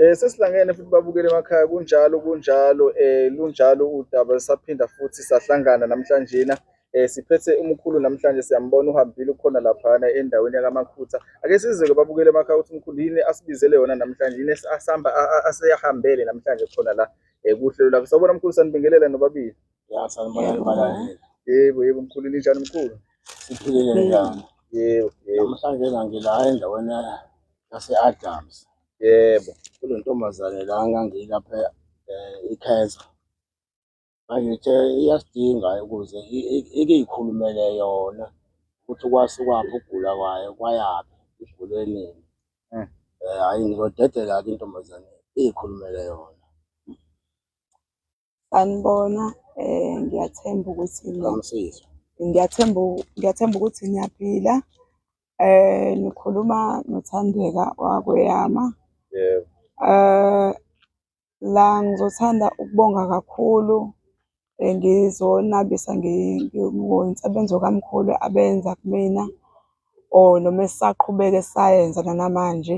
Eh sesihlangene futhi babukele emakhaya kunjalo kunjalo eh lunjalo udaba saphinda futhi sahlangana namhlanje na eh siphethe umkhulu namhlanje siyambona uhambile ukhona lapha endaweni yakamakhutha ake sizeke babukele emakhaya ukuthi umkhulu yini asibizele yona namhlanje yini asihamba aseyahambele namhlanje khona la eh kuhlelo lakho sawubona mkhulu sanibingelela nobabili ya sanibona nobabili yebo yebo mkhulu ninjani mkhulu siphilile njani yebo yebo namhlanje ngila endaweni yase Adams Yebo, kunentombazane la ngangilapha eh, ikhensa ngangithe iyasidinga ukuze i- i- ike ikhulumele yona ukuthi kwasukwaphi ukugula kwayo kwayaphi igule nini Mm. Eh, hhayi ngizodedela-ke intombazane iyikhulumele yona Sanibona, eh ngiyathemba ukuthi Ngamsizwa. ngiyathemba u- ngiyathemba ukuthi niyaphila. Eh nikhuluma nothandeka wakweyama. Yebo. Eh la ngizothanda ukubonga kakhulu eh, ngizonabisa ngi- ngi- ngomsebenzi okamkhulu abenza kumina or noma esaqhubeka esayenza nanamanje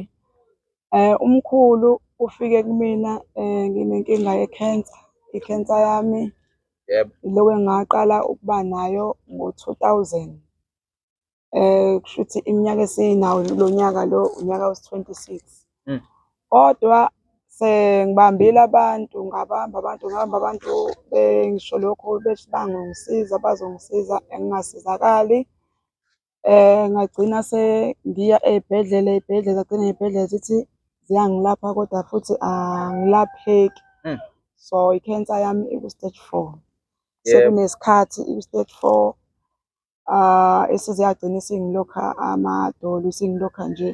Eh, umkhulu ufike kumina eh, nginenkinga ye-cancer. I-cancer yami Yebo. iloke ngaqala ukuba nayo ngo-2000. Eh, kusho ukuthi iminyaka esinawo lo nyaka lo unyaka wesi-26. Mm. Kodwa sengibambile abantu, ngabamba abantu, ngabamba abantu bengisho lokho bethi bangongisiza, bazongisiza engingasizakali. Ngagcina sengiya ey'bhedlela ey'bhedlela gcine ngey'bhedlela zithi ziyangilapha kodwa futhi angilapheki. Hmm. So i-cancer yami iku-stage four. Sekunesikhathi iku-stage four esize yagcina isingilokha amadolo isingilokha nje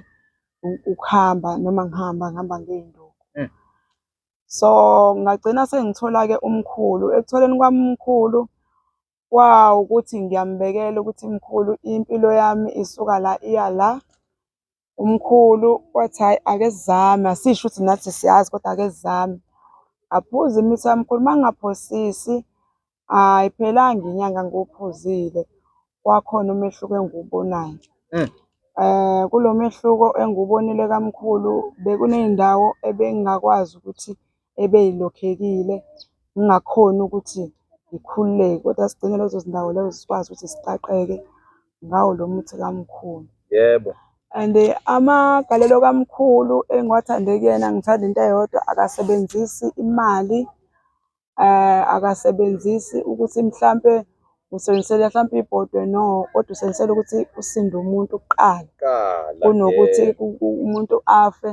ukuhamba noma ngihamba ngihamba ngey'nduku. Hmm. So ngagcina sengithola-ke umkhulu, ekutholeni kwami umkhulu Kwawu ukuthi ngiyambekela ukuthi mkhulu impilo yami isuka la iya la. Umkhulu wathi hhayi ake sizame, asisho ukuthi nathi siyazi kodwa ake sizame. Ngaphuza imithi yami mkhulu, uma ngingaphosisi ayiphelanga inyanga ngiwuphuzile wakhona umehluko engiwubonayo. Kulo mehluko engiwubonile kamkhulu bekuney'ndawo ebengingakwazi ukuthi ebeyilokhekile ngingakhoni ukuthi ngikhululeke kodwa sigcine lezo zindawo lezo sikwazi ukuthi siqaqeke ngawo lo muthi kamkhulu yebo and eh, amagalelo kamkhulu engiwathande kuyena ngithanda into eyodwa akasebenzisi imali eh akasebenzisi ukuthi mhlambe usebenzisela mhlambe ibhodwe no kodwa usebenzisela ukuthi usinde umuntu kuqala kunokuthi umuntu afe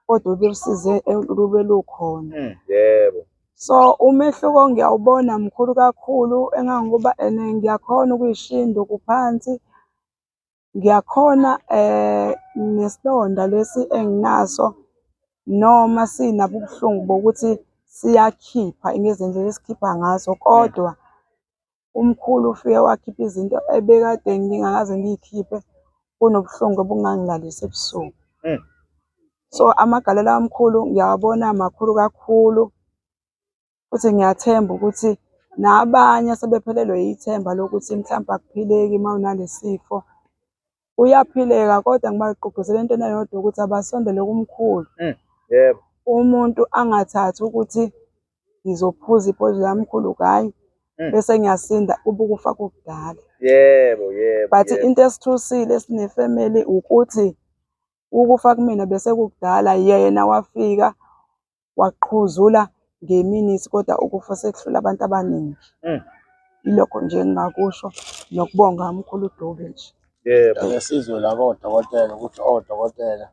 kodwa usize lube lukhona. Mm, yebo. So umehluko ngiyawubona mkhulu kakhulu engangokuba and ngiyakhona ukuyishinda okuphansi. Ngiyakhona um nesilonda lesi enginaso noma sinabo ubuhlungu bokuthi siyakhipha ngezindlela esikhipha ngazo kodwa umkhulu ufike wakhipha izinto ebekade ngingakaze ngiyikhiphe, kunobuhlungu obungangilalisi ebusuku. Mm. So amagalelo amkhulu ngiyawabona makhulu kakhulu futhi ngiyathemba ukuthi nabanye asebephelelwe yithemba lokuthi mhlawumbe akuphileki uma unalesifo uyaphileka kodwa ngibagqugquzela entweni eyodwa ukuthi abasondele kumkhulu mm, yebo umuntu angathathi ukuthi ngizophuza iphoyizini lamkhulu kanye mm. bese ngiyasinda ubukufa kukudala yebo yebo but into esithusile esinefamily ukuthi ukufa kumina bese kukudala yena wafika waqhuzula ngeminithi kodwa ukufa sekuhlula abantu abaningi mm. ilokho nje engingakusho nokubonga umkhulu uDube nje yebo ngesizwe la kodokotela ukuthi odokotela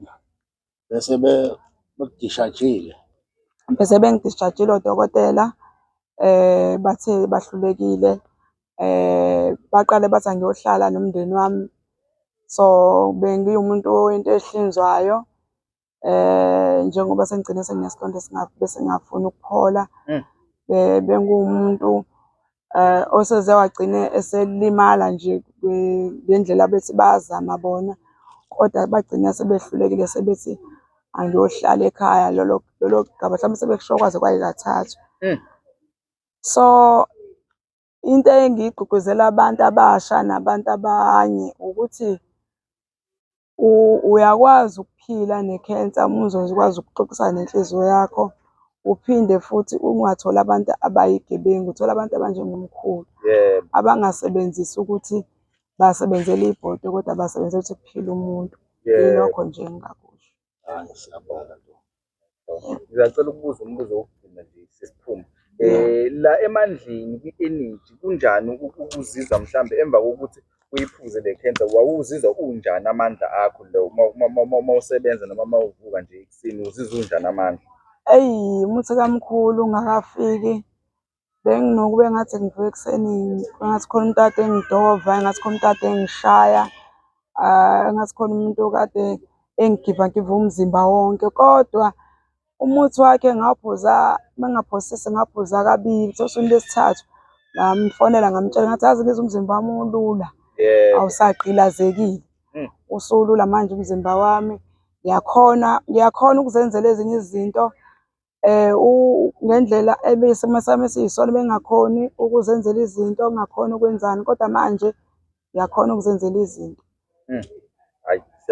bese bekudishajile bese bengidishajile odokotela eh bathe bahlulekile eh baqale bathi angiyohlala nomndeni wami so bengiwumuntu into ehlinzwayo eh njengoba sengigcine senginesilonda bese ngafuna ukuphola mm. bengumuntu eh oseze wagcine eselimala nje ngendlela bethi bazama bona kodwa bagcina sebehlulekile sebethi angiyohlala ekhaya lolo lolo gaba mhlawumbe sebekusho kwaze kwayikathathu mm. so into engiyigqugquzela abantu abasha nabantu abanye ukuthi Uyakwazi ukuphila ne-cancer uma uzokwazi ukuxoxisana nenhliziyo yakho, uphinde futhi ungatholi abantu abayigebengu, uthole abantu abanjengomkhulu abangasebenzisi ukuthi basebenzela ibhodwe kodwa basebenzela ukuthi kuphile umuntu. Ilokho nje engingakusho. Ngisacela ukubuza umbuzo wokugcina nje sesiphuma. Eh la emandleni kwi-energy kunjani ukuzizwa mhlambe emva kokuthi uyiphuze le cancer wawuzizwa unjani amandla akho lo uma usebenza noma uma uvuka nje ekuseni uzizwa unjani amandla? Eyi muthi kamkhulu ungakafiki Benginokuba engathi ngivuke ekuseni engathi khona umuntu okade engidova, engathi khona umuntu okade engishaya, engathi khona umuntu okade engigivangiva umzimba wonke. Kodwa umuthi wakhe ngawuphuza uma ngingaphosisa ngaphuza kabili, kuthiwa usukwini lwesithathu ngamfonela ngamtshela ngathi yazi ngizwa umzimba wami ulula, awusagqilazekile, hmm. usulula manje umzimba wami. Ngiyakhona, ngiyakhona ukuzenzela ezinye izinto. um ngendlela isimo sami esiyisona bengingakhoni ukuzenzela izinto, ngingakhoni ukwenzani kodwa manje ngiyakhona ukuzenzela izinto. Hmm.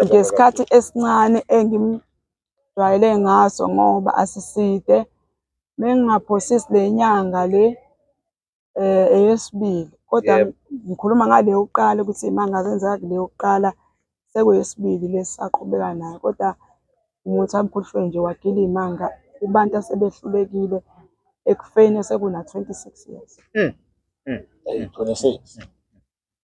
Ngesikhathi esincane engimjwayele ngaso ngoba asiside, mengingaphosisi le nyanga le eh eyesibili kodwa Yebo. ngikhuluma ngale yokuqala ukuthi imanga zenzeka kule yokuqala sekuyesibili lesaqhubeka nayo kodwa umuntu amphuhlwe nje wagila imanga kubantu asebehlulekile ekufeni sekuna 26 years Eyi, 26.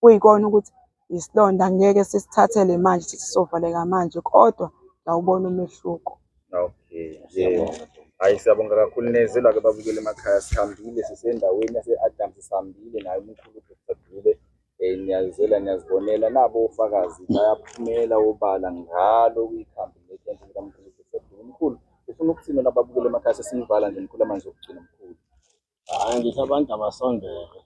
kuyikona ukuthi isilonda ngeke sisithathele manje sithi sovaleka manje kodwa ngawubona umehluko. Okay, yebo. Hayi siyabonga kakhulu neze lake babukele emakhaya sihambile sisendaweni yase-Adams sihambile naye umkhulu Dr. Dube um niyazela niyazibonela nabo ofakazi bayaphumela obala ngalo kuyikhambi letente likamkhulu Dr. Dube umkhulu ufuna ukuthini nababukele emakhaya sesinivala nje mkhulu amanzi okugcina mkhulu Hayi ngithi abantu abasondele.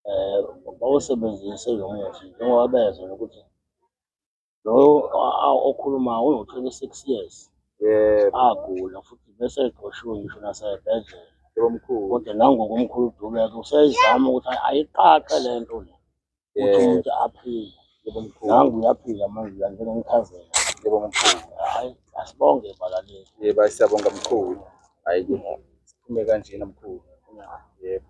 um bawusebenzise lo muthi njengoba bezwe nokuthi lo okhulumayo uno-twenty six years agula futhi bese egqoshiwe ngisho nasebhedlela kodwa nangoku umkhulu udubeke useyizama ukuthi ayiqaqe le nto le ukuthi umuntu aphile nangu uyaphila manje la njengomchazela hhayi asibonge balaleli yeba siyabonga mkhulu hhayi Siphume kanjena mkhulu. Yebo.